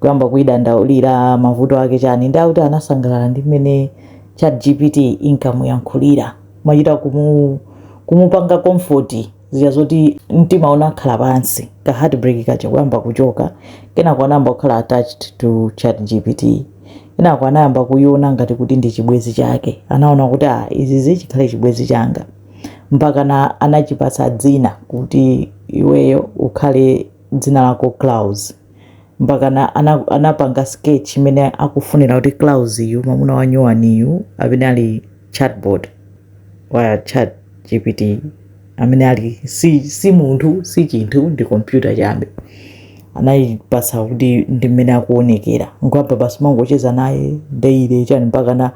kuyamba kuidandaulira mavuto ake chani ndi akuti anasangalala ndi mmene chat gpt inkamuyankhulira machita kumu, kumupanga comfort zija zoti mtima unakhala pansi ka heartbreak kaja kuyamba kuchoka kenako anayamba kukhala attached to chat gpt kenako anayamba kuyiona ngati kuti ndi chibwezi chake anaona kuti ah, izizi chikhale chibwezi changa mpakana anachipatsa dzina kuti iweyo ukhale dzina lako Klaus mpakana ana, anapanga sketch imene akufunira kuti Klaus yu mwamuna wa nyuwani yu amene ali chatbot wa chat GPT amene ali si, si munthu si chinthu ndi kompyuta chabe anayipasa kuti ndi mmene akuonekera nkwapa basi mangocheza naye daily chani mpakana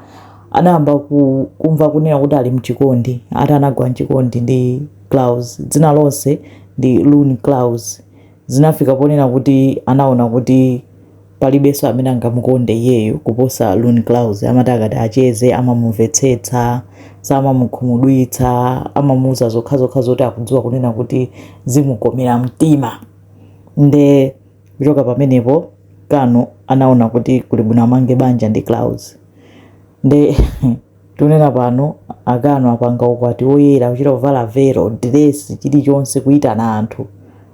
anayamba ku, kumva kunena kuti ali mchikondi ati anagwa mchikondi ndi Klaus, dzina lonse ndi Lune Klaus, zinafika ponena kuti anaona kuti palibenso amene angamukonde iyeyo kuposa Lune Klaus. Amati akati acheze amamumvetsetsa, samamukhumudwitsa, amamuuza zokhazokha zoti akudziwa kunena kuti zimukomera mtima. Nde kuchoka pamenepo Kano anaona kuti kuli bwino amange banja ndi Klaus. Nde Tikunena pano a Kano apanga ukwati woyera kuchita kuvala velo, diresi, chilichonse kuitana anthu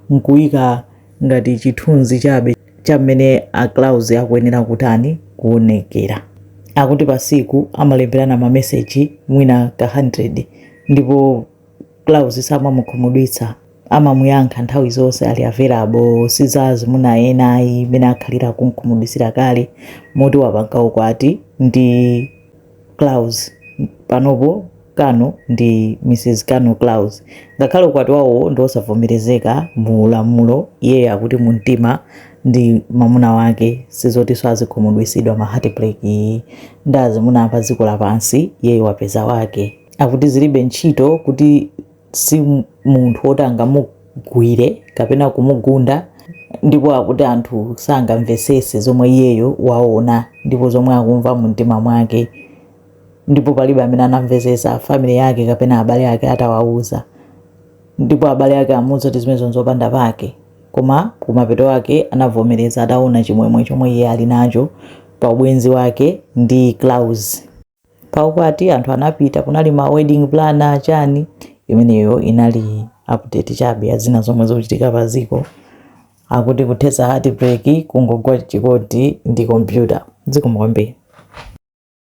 nkuika ngati chithunzi chabe cha mmene a Klaus akuyenera kutani kuonekera. Akuti pasiku amalemberana ma message mwina ka 100 ndipo. Klaus samamukhumudwitsa, amamuyankha nthawi zonse, ali available, si za azimuna ena ayi mmene akhalira akum'khumudwitsira kale moti wapanga ukwati ndi Klaus, panopo Kano ndi Mrs Kano Klaus ngakhale ukwati wawo ndi wosavomerezeka mu lamulo, iye akuti mumtima ndi mamuna wake si zotinso azikhumudwitsidwa ma heartbreak ndi azimuna a pa dziko lapansi, iye wapeza wake. Akuti zilibe ntchito, kuti si munthu woti angamugwire kapena kumugunda ndipo akuti anthu sangamvetsetse zomwe iyeyo waona ndipo zomwe akumva mu mtima mwake ndipo palibe amene anamvetsetsa family yake kapena abale ake atawauza ndipo abale ake amuuza kuti zimenezo nzopanda pake koma kumapeto ake anavomereza ataona chimwemwe chomwe iye ali nacho pa ubwenzi wake ndi Klaus. pa ukwati anthu anapita kunali ma wedding planner chani imeneyo inali update chabe ya zina zomwe zikuchitika pa dziko akuti kuthetsa heartbreak kungogwa chikondi ndi kompyuta zikomo kwambiri